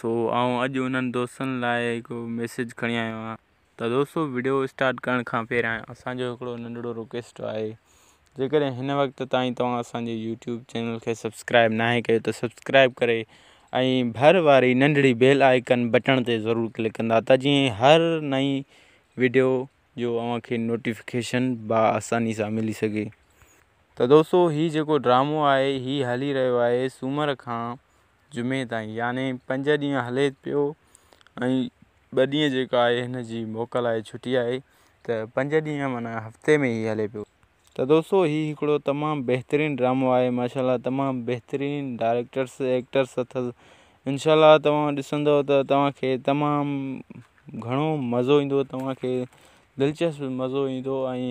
سو آئون اڄ انهن دوستن لاء هڪڙو ميسيج کڻي آيو آهيان ته دوستو وڊيو اسٽارٽ ڪرڻ کان پهريان اسان جو هڪڙو ننڍڙو رڪويسٽ آهي جيڪڏهن هن وقت تائين توهان اسان جي يوٽيوب چينل کي سبسڪرائب ناهي ڪيو ته سبسڪرائب ڪري ۽ ڀر واري ننڍڙي بيل آئيڪن بٽڻ تي ضرور ڪلڪ ڪندا ته جيئن هر نئين وڊيو جو اوهان کي نوٽيفڪيشن با آساني سان ملي سگهي ته دوستو هي جيڪو ڊرامو آهي هي هلي رهيو آهي سومر کان جمعي تائين يعني پنج ڏينهن هلي پيو ۽ ٻه ڏينهن جيڪا آهي هن جي موڪل آهي ڇٽي آهي ته پنج ڏينهن معنيٰ هفتي ۾ هي هلي پيو ته دوستو هي هڪڙو تمام بهترين ڊرامو آهي ماشاء الله تمام بهترين ڊائريڪٽرس ايڪٽرس اٿس انشاء الله توهان ڏسندو ته توهان کي تمام گهڻو مزو ايندو توهان کي دلچسپ مزو ايندو ۽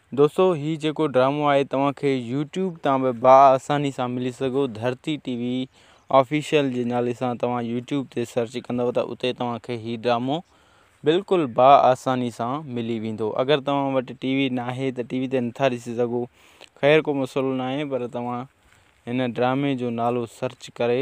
دوستو هي جيڪو ڊرامو آهي توهان کي يوٽيوب تان به با آساني سان ملي سگهو ڌرتي ٽي وي آفيشل جي نالي سان توهان يوٽيوب تي سرچ ڪندو ته اتي توهان کي هي ڊرامو بلڪل با آساني سان ملي ويندو اگر توهان وٽ ٽي وي ناهي ته ٽي وي تي نٿا ڏسي سگهو خير ڪو مسئلو ناهي پر توهان هن ڊرامي جو نالو سرچ ڪري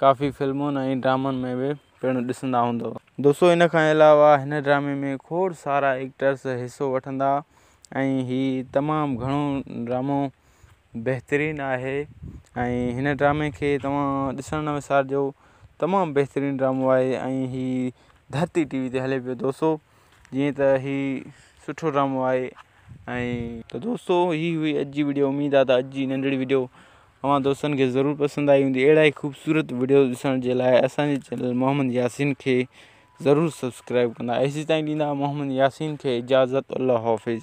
ڪافي فلمن ۽ ڊرامن ۾ به پڻ ڏسندا هوندؤ. دوستو ان کان علاوه هن ڊرامي ۾ کوڙ سارا ايڪٽرز حصو وٺندا ۽ هي تمام گهڻو ڊرامو بهترين آهي ۽ هن ڊرامي کي توهان ڏسڻ نه وسارجو تمام بهترين ڊرامو آهي ۽ هي ڌرتي ٽي وي تي هلي پيو دوستو جيئن ته هي سٺو ڊرامو آهي ۽ ته دوستو هي هئي اڄ جي وڊيو اميد آهي ته اڄ جي ننڍڙي وڊيو اوهان دوستن کي ضرور پسند آئي هوندي اهڙا ئي خوبصورت وڊيوز ڏسڻ جي لاء اسان جي چينل محمد ياسين کي ضرور سبسڪرائب ڪندا ايسي تائين ڏيندا محمد ياسين کي اجازت الله حافظ.